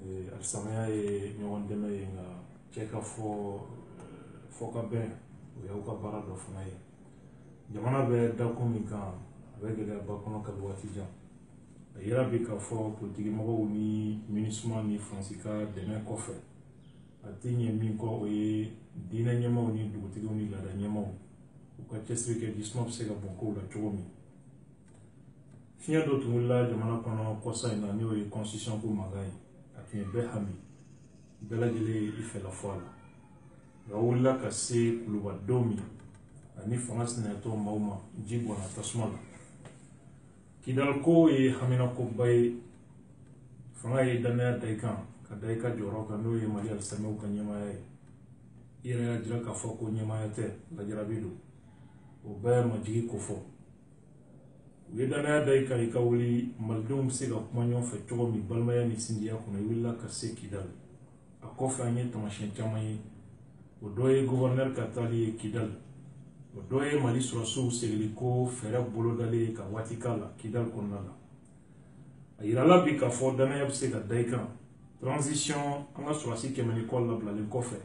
Eh, alisilamaya ye ɲɔgɔn dɛmɛ ye nka cɛ ka fɔ eh, fɔkabɛn o y'aw ka baara dɔ fana ye jamana bɛ dakun min kan a bɛ gɛlɛyaba kɔnɔ kabi waati jan a yira bi k'a fɔ politikimɔgɔw ni minusma ni faransi ka dɛmɛ kɔfɛ a tɛ ɲɛ min kɔ o ye diinɛ ɲɛmaaw ni dugutigiw ni laada ɲɛmaaw u ka cɛsiri kɛ jisuma bɛ se ka bɔn kow la cogo min fiɲɛ dɔ tun wulila jamana kɔnɔ kɔsa in na n'o ye constitution ko mankan ye a tun ye bɛɛ hami bɛɛ lajɛlen ye i fɛla fɔ a la nka wulila ka se kulubadenw min ani fanga sinayatɔn maaw ma ji bɔnna tasuma la kidali ko ye haminakoba ye fanga ye dannaya da i kan ka da i ka jɔyɔrɔ kan n'o ye mali alisilamɛw ka ɲɛmaaya ye i yɛrɛ y'a jira k'a fɔ ko ɲɛmaaya tɛ lajarabi don o bɛɛ majigi kofɔ u ye dannaya da i kan i ka wuli malidenw bɛ se ka kuma ɲɔgɔn fɛ cogo min balimaya ni sinjiya kɔnɔ i wulila ka se kidali a kɔfɛ an ye tamasiyɛn caman ye o dɔ ye guvɛrinɛri ka taali ye kidali o dɔ ye mali sɔrɔsiw segili ko fɛɛrɛ bolodalen ye ka waati k'a la kidali kɔnɔna la a yirala bi k'a fɔ dannaya bɛ se ka da i kan transition an ka sɔrɔsi kɛmɛ ni kɔ labilalen kɔfɛ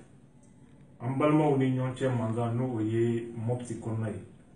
an balimaw ni ɲɔgɔn cɛ mankan n'o ye mɔpiti kɔnɔna ye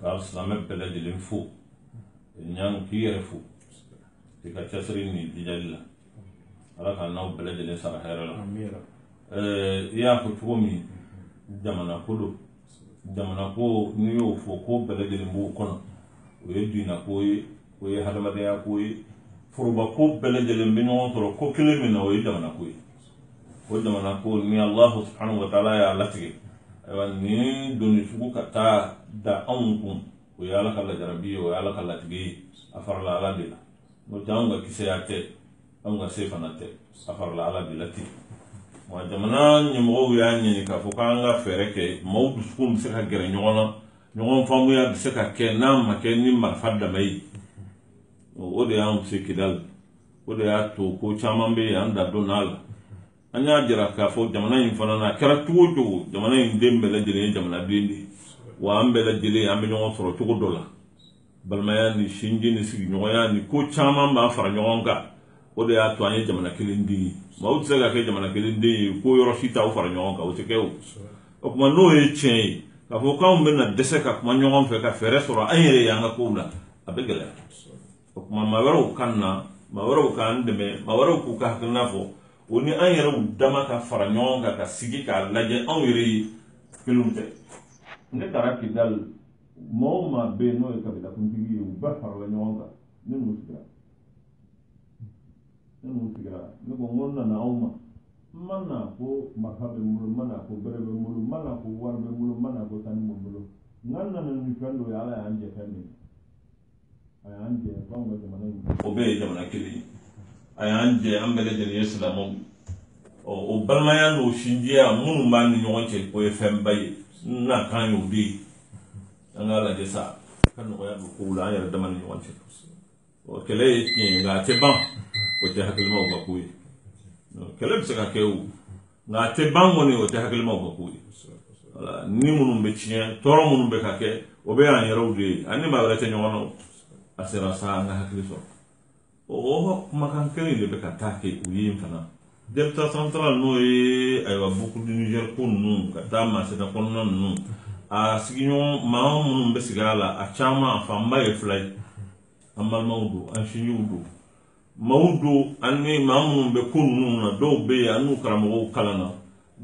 ka silamɛ bɛɛ lajɛlen fo ɲan k'i yɛrɛ fo k'i ka cɛsiri ni jijali la ala ka n'aw bɛɛ lajɛlen sara hɛrɛ la i y'a fɔ cogo min jamana ko don jamana ko n'i y'o fɔ ko bɛɛ lajɛlen b'o kɔnɔ o ye diinɛ ko ye o ye hadamadenya ko ye foroba ko bɛɛ lajɛlen bɛ ɲɔgɔn sɔrɔ ko kelen min na o ye jamana ko ye o jamana ko ni allah subhanahu wa taala y'a latigɛ ayiwa nin doni sugu ka taa da anw kun o ye ala ka lajarabi ye o ye ala ka latigɛ ye a farala ala de la n'o tɛ anw ka kisɛya tɛ anw ka se fana tɛ a farala ala de la ten wa jamana ɲɛmɔgɔw y'a ɲini k'a fɔ k'an ka fɛɛrɛ kɛ maaw dusukun bɛ se ka gɛrɛ ɲɔgɔn na ɲɔgɔn faamuya bɛ se ka kɛ n'a ma kɛ ni marifa dama ye o de y'an se kidali o de y'a to ko caman bɛ yen an da donna la an y'a jira k'a fɔ jamana in fana na a kɛra cogo o cogo jamana in den bɛɛ lajɛlen ye jamanaden de ye wa an bɛɛ lajɛlen an bɛ ɲɔgɔn sɔrɔ cogo dɔ la balimaya ni sinji ni sigiɲɔgɔnya ni ko caman b'an fara ɲɔgɔn kan o de y'a to an ye jamana kelen den ye maaw tɛ se ka kɛ jamana kelen den ye ko yɔrɔ si t'aw fara ɲɔgɔn kan o tɛ kɛ o o tuma n'o ye tiɲɛ ye k'a fɔ k'anw bɛna dɛsɛ ka kuma ɲɔgɔn fɛ ka fɛɛrɛ sɔrɔ an yɛrɛ y'an ka kow la a bɛ gɛlɛya o tuma maa wɛrɛw ka na maa wɛrɛw k'an dɛmɛ maa wɛrɛw k'u ka hakilina fɔ o ni an yɛrɛw dama ka fara ɲɔgɔn kan ka sigi k'a lajɛ anw yɛrɛ ye kelenw tɛ ne taara kidali maa o maa bɛ yen n'o ye kabilakuntigi ye u bɛɛ farala ɲɔgɔn kan ne n'u sigira ne n'u sigira ne ko n ko n nana aw ma n ma na ko marifa bɛ n bolo n ma na ko bere bɛ n bolo n ma na ko wari bɛ n bolo n ma na ko sanu bɛ n bolo nka n nana ni fɛn dɔ ye ala y'an jɛ fɛn min ye o bɛɛ ye jamana kelen ye a y'an jɛ an bɛɛ lajɛlen ye silamɛw ye o balimaya n'o sinjiya minnu b'an ni ɲɔgɔn cɛ o ye fɛnba ye n nakan y'o de ye an k'a lajɛ sa ka nɔgɔya don kow la an yɛrɛ dama ni ɲɔgɔn cɛ o kɛlɛ ye tiɲɛ ye nka a tɛ ban o tɛ hakilimaw ka ko ye kɛlɛ bɛ se ka kɛ o nka a tɛ ban kɔni o tɛ hakilimaw ka ko ye wala ni minnu bɛ tiɲɛ tɔɔrɔ minnu bɛ ka kɛ o bɛɛ y'an yɛrɛw de ye an ni maa wɛrɛ tɛ ɲɔgɔn na o. a sera sa an ka hakili sɔrɔ o o kumakan kelen de bɛ ka taa kɛ u ye in fana delta central n'o ye ayiwa boucle du niger ko ninnu ka taa masina kɔnɔna ninnu a sigiɲɔgɔn maa minnu bɛ sigi a la a caman a fanba ye fila ye an balimaw don an sinjiw don maaw don ani maa minnu bɛ ko ninnu na dɔw bɛ yen an n'u karamɔgɔw kalanna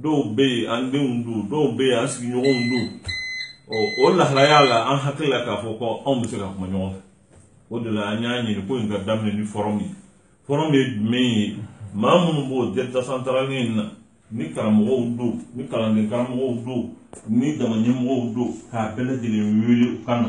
dɔw bɛ yen an denw don dɔw bɛ yen an sigiɲɔgɔnw don ɔ o lahalaya la an hakili la k'a fɔ ko anw bɛ se ka kuma ɲɔgɔn fɛ o de la an y'a ɲini ko in ka daminɛ ni fɔrɔmu ye fɔrɔmu ye jumɛn ye maa minnu b'o delta central in na ni karamɔgɔw don ni kalanden karamɔgɔw don ni jama ɲɛmɔgɔw don k'a bɛɛ lajɛlen wele u ka na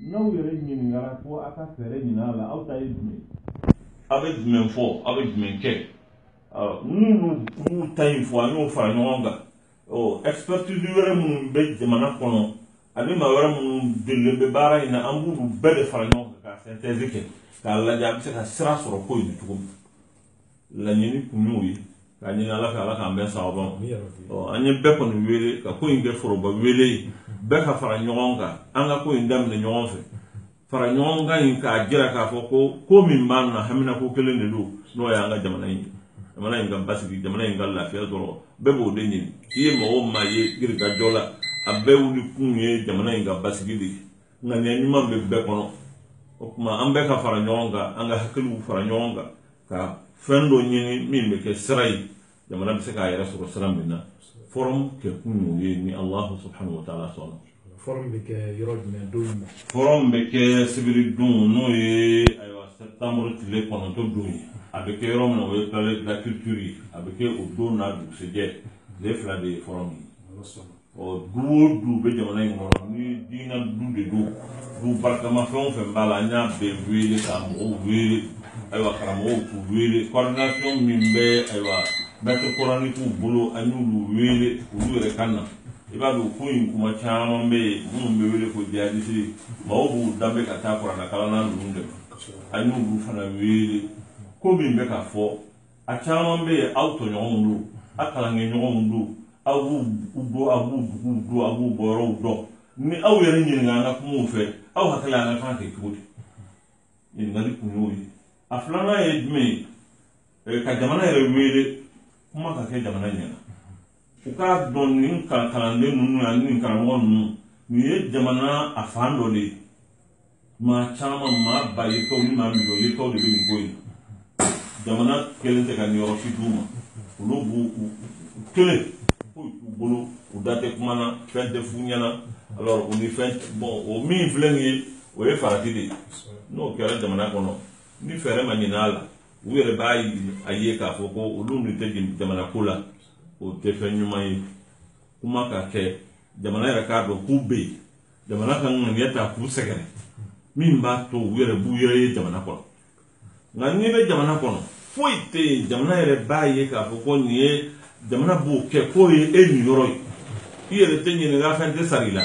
n'aw yɛrɛ ɲininkara ko a ka fɛɛrɛ ɲinin a la aw ta ye jumɛn ye aw bɛ jumɛn fɔ aw bɛ jumɛn kɛ minnu minnu ta in fɔ an y'o fara ɲɔgɔn kan ɔ expertise wɛrɛ minnu bɛ jamana kɔnɔ ani maa wɛrɛ minnu delilen bɛ baara in na an b'olu bɛɛ de fara ɲɔgɔn kan ka sɛntɛzi kɛ k'a lajɛ an bɛ se ka sira sɔrɔ ko in na cogo min laɲini kun y'o ye ka ɲini ala fɛ ala k'an bɛn sawaba ma an ye bɛɛ kɔni wele ka ko in kɛ foroba wele ye bɛɛ ka fara ɲɔgɔn kan an ka ko in daminɛ ɲɔgɔn fɛ fara ɲɔgɔn kan in k'a jira k'a fɔ ko ko min b'an na hamina ko kelen de don n'o y'an ka jamana in ye jamana in ka basigi jamana in ka lafiya dɔrɔn bɛɛ b'o de ɲini i ye maa o maa ye girikajɔ la a bɛɛ wuli kun ye jamana in ka basigi de ye ŋaniya ɲuman bɛ bɛɛ kɔnɔ o tuma an bɛɛ ka fara ɲɔgɔn kan an ka hakiliw fara ɲɔgɔn kan ka fɛn dɔ ɲini min bɛ kɛ sira ye jamana bɛ se k'a yɛrɛ sɔrɔ sira min na fɔrɔm kɛ kun y'o ye ni alahu subhanahu wa taala sɔnna fɔrɔm bɛ kɛ yɔrɔ jumɛn don jumɛn fɔrɔm bɛ kɛ sibiri don n'o ye ayiwa sɛtanburu tile kɔnɔntɔn don ye a bɛ kɛ yɔrɔ min na o ye palais de la culture ye a bɛ kɛ o don n'a dugusɛjɛ tile fila de ye fɔrɔm ye du o du bɛ jamana in kɔnɔ ni diinɛ du de don du barikama fɛn o fɛn b'a la an y'a bɛɛ wele ka mɔgɔw wele ayiwa karamɔgɔw k'u wele coordination min bɛ ayiwa maître coraniquew bolo an y'olu wele olu yɛrɛ ka na i b'a dɔn ko in kuma caman bɛ yen minnu bɛ wele ko jihadisi mɔgɔw b'u danbe ka taa kuranɛ kalanna ninnu dɛmɛ an y'olu fana wele ko min bɛ ka fɔ a caman bɛ yen aw tɔɲɔgɔnw don a kalankɛ ɲɔgɔnw don aw b'u bɔ a b'u buguw dɔn a b'u bɔyɔrɔw dɔn ni aw yɛrɛ ɲininka an ka kumaw fɛ aw hakili la an ka kan k'a kɛ cogo di ɲininkali kun y'o ye a filanan ye jumɛn ye ka jamana yɛrɛ wele kuma ka kɛ jamana ɲɛna u k'a dɔn nin kalanden ninnu ani nin karamɔgɔ ninnu nin ye jamana a fan dɔ de ye maa caman maa ba yirika ni maa miliyɔn yirika de bɛ nin ko in jamana kɛlen tɛ ka niyɔrɔ si d'u ma olu b'u u kelen ko u bolo u da tɛ kuma na fɛn tɛ f'u ɲɛna alors en effet bon o min filɛ nin ye o ye farati de ye n'o kɛra jamana kɔnɔ ni fɛɛrɛ ma ɲin'a la u yɛrɛ b'a a ye k'a fɔ ko olu nin tɛ jamana ko la o tɛ fɛn ɲuman ye kuma ka kɛ jamana yɛrɛ k'a dɔn k'u bɛ yen jamana ka ŋaniya ta k'u sɛgɛrɛ min b'a to u yɛrɛ b'u yɛrɛ ye jamana kɔnɔ nka n'i bɛ jamana kɔnɔ foyi tɛ yen jamana yɛrɛ b'a ye k'a fɔ ko nin ye jamana b'o kɛ k'o ye e niyɔrɔ ye i yɛrɛ tɛ ɲininka fɛn tɛ sara i la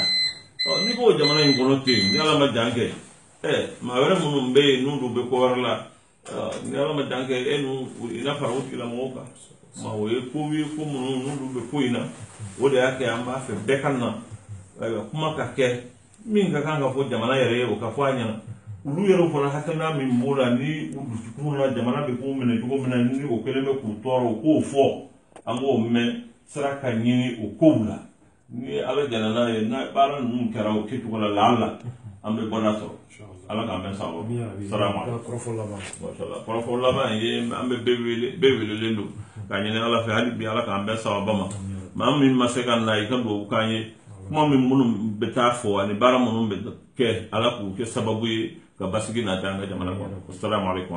n'i b'o jamana in kɔnɔ ten yen ni ala ma jan kɛ ɛ maa wɛrɛ minnu bɛ yen n'olu bɛ ko wɛrɛ la ni ala ma jan kɛ e n'u i na fara o tigilamɔgɔw kan ma o ye ko ye ko minnu n'olu bɛ ko in na o de y'a kɛ an b'a fɛ bɛɛ ka na ayiwa kuma ka kɛ min ka kan ka fɔ jamana yɛrɛ ye o ka fɔ a ɲɛna olu yɛrɛ fana hakilina min b'o la ni u dusukun na jamana bɛ k'u minɛ cogo min na ni o kɛlen bɛ k'u tɔɔrɔ u k'o fɔ an k'o mɛn sira ka ɲini o kow la ni ala jɛnna n'a ye n'a baara ninnu kɛra o kɛcogo la lahan la an bɛ bɔda sɔrɔ ala k'an bɛn sawaba ma kɔrɔfɔ laban ye an bɛ bɛɛ welelen don k'a ɲini ala fɛ hali bi ala k'an bɛn sawaba ma maa min ma se ka na i ka dugawu k'an ye kuma min minnu bɛ taa fɔ ani baara minnu bɛ kɛ ala k'u kɛ sababu ye ka basigi na an ka jamana kɔnɔ salamu alaykum